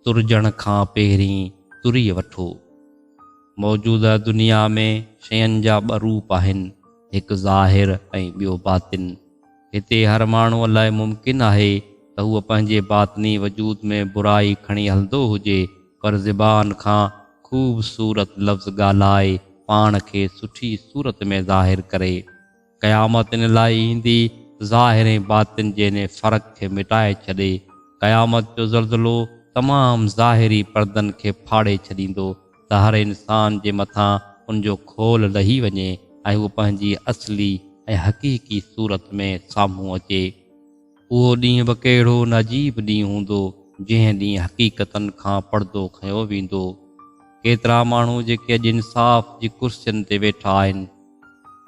ترجڻ کان پهرين تري وٺو. موجوده دنيا ۾ شين جا ٻه روپ آهن، هڪ ظاهر ۽ ٻيو باطن. هتي هر ماڻهوء لاء ممڪن آهي ته هو پنهنجي باطني وجود ۾ برائي کڻي هلندو هجي، پر زبان کان خوبصورت لفظ ڳالهائي پاڻ کي سٺي صورت ۾ ظاهر ڪري. قيامت ان لاء ايندي ظاهر ۽ باطن جي انهي فرق کي مٽائي ڇڏي. قيامت جو زلزلو تمام ظاهري پردن کي ڦاڙي ڇڏيندو ته هر انسان جي مٿان ان جو خول لهي وڃي ۽ هو پنهنجي اصلي ۽ حقيقي صورت ۾ سامهون اچي. اهو ڏينهن به ڪهڙو نه عجيب ڏينهن هوندو، جنهن ڏينهن حقيقتن کان پڙدو کنيو ويندو. ڪيترا ماڻهو جيڪي اڄ انصاف جي ڪرسين تي ويٺا آهن،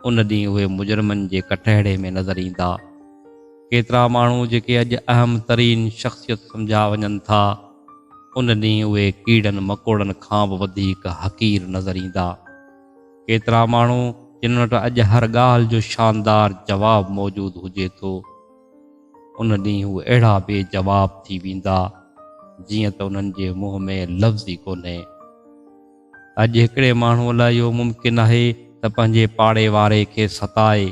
ان ڏينهن اهي مجرمن جي ڪٽهڙي ۾ نظر ايندا. ڪيترا ماڻهو جيڪي اڄ اهم ترين شخصيت سمجهيا وڃن ٿا، ان ڏينهن اهي ڪيڙن مڪوڙن کان به وڌيڪ حقير نظر ايندا. ڪيترا ماڻهو جن وٽ اڄ هر ڳالهه جو شاندار جواب موجود هجي ٿو، ان ڏينهن هو اهڙا بي جواب ٿي ويندا جيئن ته انهن جي منهن ۾ لفظ ئي ڪونهي. اڄ هڪڙي ماڻهوء لاء اهو ممڪن آهي ته پنهنجي پاڙي واري کي ستائي،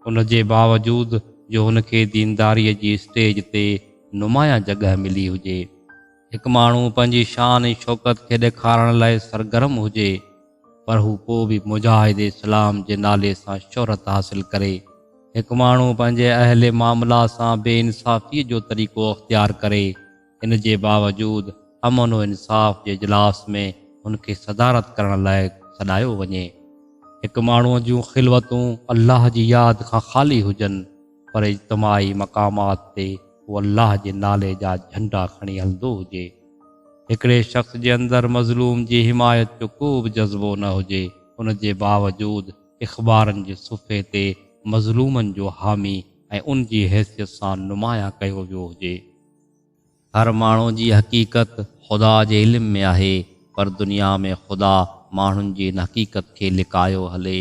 ان جي باوجود جو هن کي دينداريء جي اسٽيج تي نمايان جڳهه ملي هجي. هڪ ماڻهو پنهنجي شان ۽ شوڪت کي ڏيکارڻ لاء سرگرم هجي پر هو پوء به مجاهد اسلام جي نالي سان شهرت حاصل ڪري، هڪ ماڻهو پنهنجي اهل معاملا سان بي انصافي جو طريقو اختيار ڪري، ان جي باوجود امن و انصاف جي اجلاس ۾ هن کي صدارت ڪرڻ لاء سڏايو وڃي. هڪ ماڻهو جون خلوتون الله جي ياد کان خالي هجن. پر اجتماعي مقامات تي هو الله جي نالي جا جهنڊا کڻي هلندو هجي. هڪڙي شخص جي اندر مظلوم جي حمايت جو ڪو به جذبو نه هجي، ان جي باوجود اخبارن جي صفحي تي مظلومن جو حامي ۽ ان جي حيثيت سان نمايان ڪيو ويو هجي. هر ماڻهو جي حقيقت خدا جي علم ۾ آهي پر دنيا ۾ خدا ماڻهن جي ان حقيقت کي لڪايو هلي.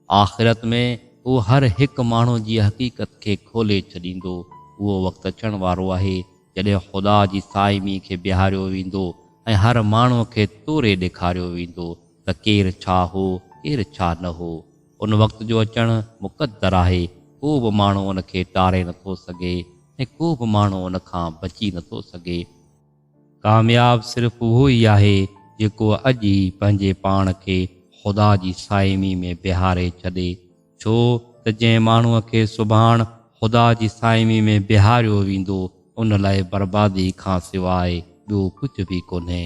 آخرت ۾ هو هر هڪ ماڻهو جي حقيقت کي کولي ڇڏيندو. اهو وقت اچڻ وارو آهي جڏهن خدا جي صائمي کي بيهاريو ويندو ۽ هر ماڻهو کي توري ڏيکاريو ويندو ته ڪير ڇا هو ڪير ڇا نه هو. ان وقت جو اچڻ مقدر آهي، ڪو به ماڻهو ان کي ٽاري نٿو سگهي ۽ ڪو به ماڻهو ان کان بچي نٿو سگهي. ڪامياب صرف اهو ئي آهي جيڪو اڄ ئي پنهنجي پاڻ کي خدا جي صائمي ۾ بيهاري ڇڏي، ڇو ته جنهن ماڻهوء کي سڀاڻ خدا جي صائمي ۾ بيهاريو ويندو، ان لاء بربادي کان سواء ٻيو ڪجهه به ڪونهي.